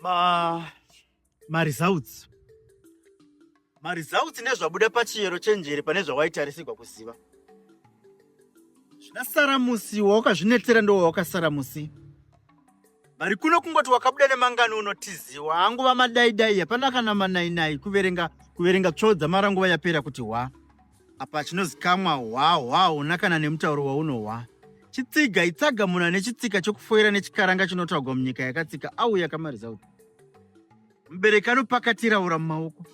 ma maresults maresults nezvabuda pachiyero chenjere pane zvawaitarisigwa kuziva zvasara musi wawakazvinetsera ndo wawakasara musi vari kuno kungoti wakabuda nemangani unotiziwa anguva madaidai hapana kana manainai kuverenga kuverenga tsvodza mara nguva yapera kuti wa Apa chinozikamwa hwa hwa huna kana nemutauro waunohwa. Chitsiga itsaga munhu ane chitsika chokufoira nechikaranga chinotaugwa munyika yakatsika auya kamarizauti. Mubereki anopakatira ura mumaoko.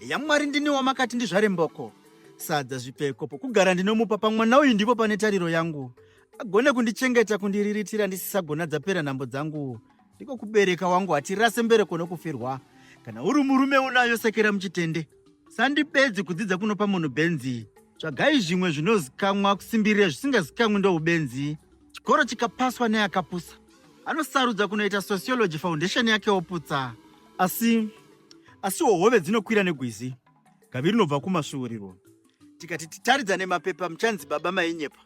YaMwari ndini wamakati ndizvare mboko. Sadza zvipfeko pokugara ndinomupa pamwana uyu ndipo pane tariro yangu. Agone kundichengeta kundiriritira ndisisagona dzapera nhambo dzangu. ndiko kubereka wangu hatirase mbereko nokufirwa kana uri murume unayo sekera muchitende sandibedzi kudzidza kunopa munhu benzi tsvagai zvimwe zvinozikamwa kusimbirira zvisingazikamwi ndoubenzi chikoro chikapaswa neakapusa anosarudza kunoita sociology foundation yake oputsa asi asiwo hove dzinokwira negwizi gavi rinobva kumasvuuriro tikati titaridza nemapepa muchanzi baba mainyepa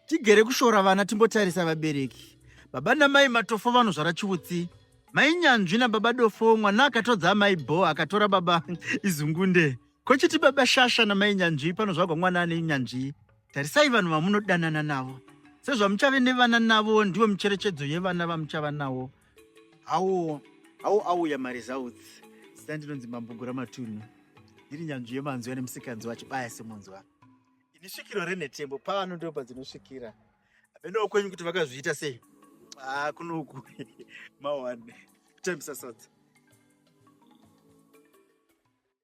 Tigere kushora vana timbotarisa vabereki. Baba namai matofo vanozvara chiutsi. Mai nyanzvi nababa dofo mwana akatodza amai bho akatora baba izungunde. Kochiti baba shasha namai nyanzvi panozvagwa mwana ane nyanzvi. Tarisai vanhu vamunodanana navo. Sezvamuchave nevana navo ndiwo micherechedzo yevana vamuchava nawo. Hawo hawo auya maresults. Zita ndinonzi Mambo Guramatunhu. Ndiri nyanzvi yemanzwi ane musikanzwa achibaya semunzwa. Ini svikiro renhetembo pano ndipo padzinosvikira. Venowo kwenyu kuti vakazviita sei? Ah, kunoku mawane. Kutambisa sadza.